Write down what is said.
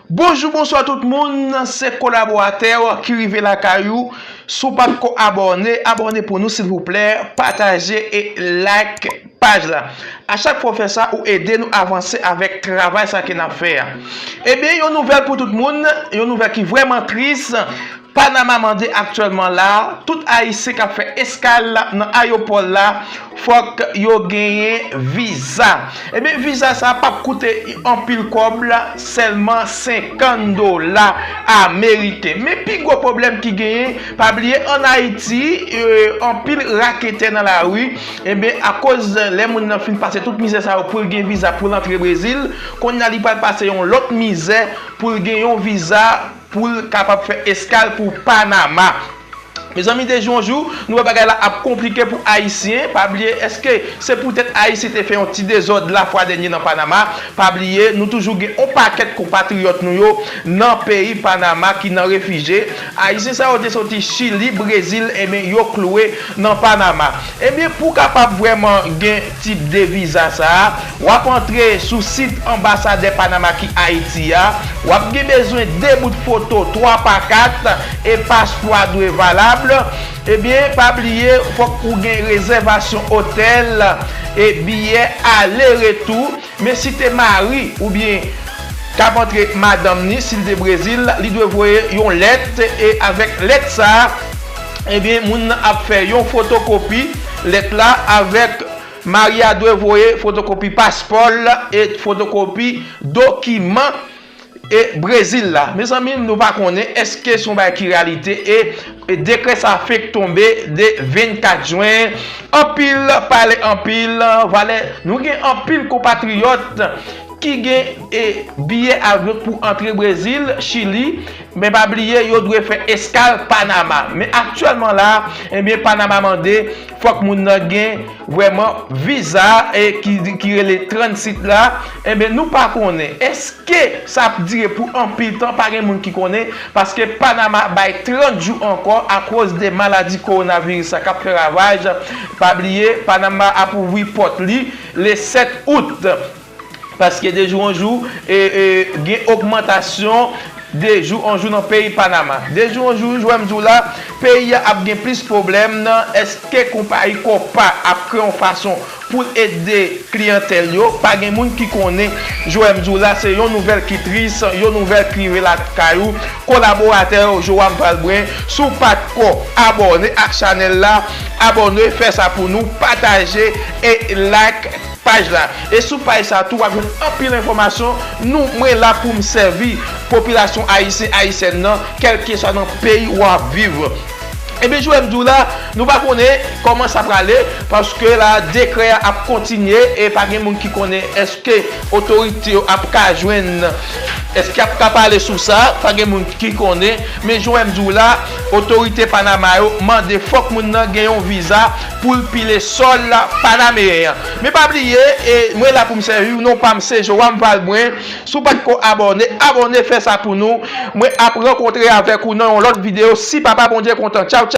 Bonjou bonswa tout moun se kolaboratèw ki rive lakay ou si w pat ko abòne abòne pou nou silvouplè pataje e like paj la a chak fwa w fè sa ou ede nou avanse avèk travay sa ke nap fè a ebyen yon nouvèl pou tout moun yon nouvèl ki vrèman tris Panama mande aktyèlman la a, tout Ayisyen k ap fè eskal nan ayopò l la fòk yo genyen viza. Ebyen viza sa a pap koute anpil kòb, sèlman 50 dola ameriken. Men pi gwo pwoblèm ki genyen, pa bliye an Ayiti, anpil raketè nan lari, ebyen akoz lè moun nan fin pase tout mizè sa yo pou l gen viza pou l antre Brezil, kounye a li pral pase yon lòt mizè pou l gen yon viza. Pou l kapab fè eskal pou Panama. Mezanmi deje yon jou nou wè bagay la ap konplike pou ayisyen, pa bliye eske se poutèt ayisyen te fè yon ti dezòd la fwa dènye nan Panama, pa bliye nou toujou gen yon pakèt konpatriyòt nou yo nan peyi Panama ki nan refije, ayisyen sa yo te soti chili, brezil, enben yo kloue nan Panama. Ebyen pou kapab vrèman gen tip de viza sa a, wap antre sou sit anbasadè Panama ki Ayiti a, wap gen bezwen 2 bout foto 3 pa 4 e paspò a dwe valab, ebyen pa bliye fòk ou gen rezèvasyon otèl e biyè ale retou. Men si te mari ou byen kap antre madanm ni sil te brezil li dwe voye yon lèt e avèk lèt sa ebyen moun nan ap fè yon fotokopi lèt la avèk mari a dwe voye fotokopi paspòl e fotokopi dokiman E Brezil la mezanmi nou pa konnen eske son bagay ki reyalite e dekrè sa fenk tonbe de 24 jwen anpil pale anpil valè nou gen anpil konpatriyòt ki gen e biyè avyon pou antre Brezil, Chili men pa bliye yo dwe fè eskal Panama men aktyèlman la ebyen Panama mande. Fòk moun nan gen vrèman viza e ki rele transit la enben nou pa konnen eske sa ap dire pou anpil tan pa gen moun ki konnen paske Panama bay 30 jou ankò akoz de maladi kowonaviris la kap fè ravaj pa bliye Panama ap ouvri pòt li le 7 out. Paske de jou an jou, gen ogmantasyon de jou an jou nan peyi Panama. De jou an jou, jwèm di w la, peyi a ap gen plis pwoblèm nan eske konpayi Copa ap kreye yon fason pou l ede kliyantèl yo. Pa gen moun ki konnen, jwèm di w la, se yon nouvèl ki tris, yon nouvèl ki rive lakay ou, kolaboratè yo, Joam Valbrun. Si w pa t ko abòne ak chanèl la, abòne, fè sa pou nou, pataje e like. Paj la. E sou paj sa tou wap jwenn anpil enfòmasyon nou mwen la poum sèvi popilasyon ayisyen ayisyèn nan kèlkeswa nan peyi ou ap viv. Ebyen joum diw la nou pa konnen kòman sa prale paske la dekrè a ap kontinye e pa gen moun ki konnen eske otorite yo ap ka jwenn eske yap ka pale sou sa pa gen moun ki konnen men joum diw la otorite panama yo mande fòk moun nan gen yon viza Pou l pile sòl la panameyen an. Men pa bliye e mwen la pou m sèviw non pam se Joam Valbrun si w pat ko abòne abòne fè sa pou nou mwen ap rankontre avèk ou nan yon lòt video si papa Bondye kontan tchaw tchaw.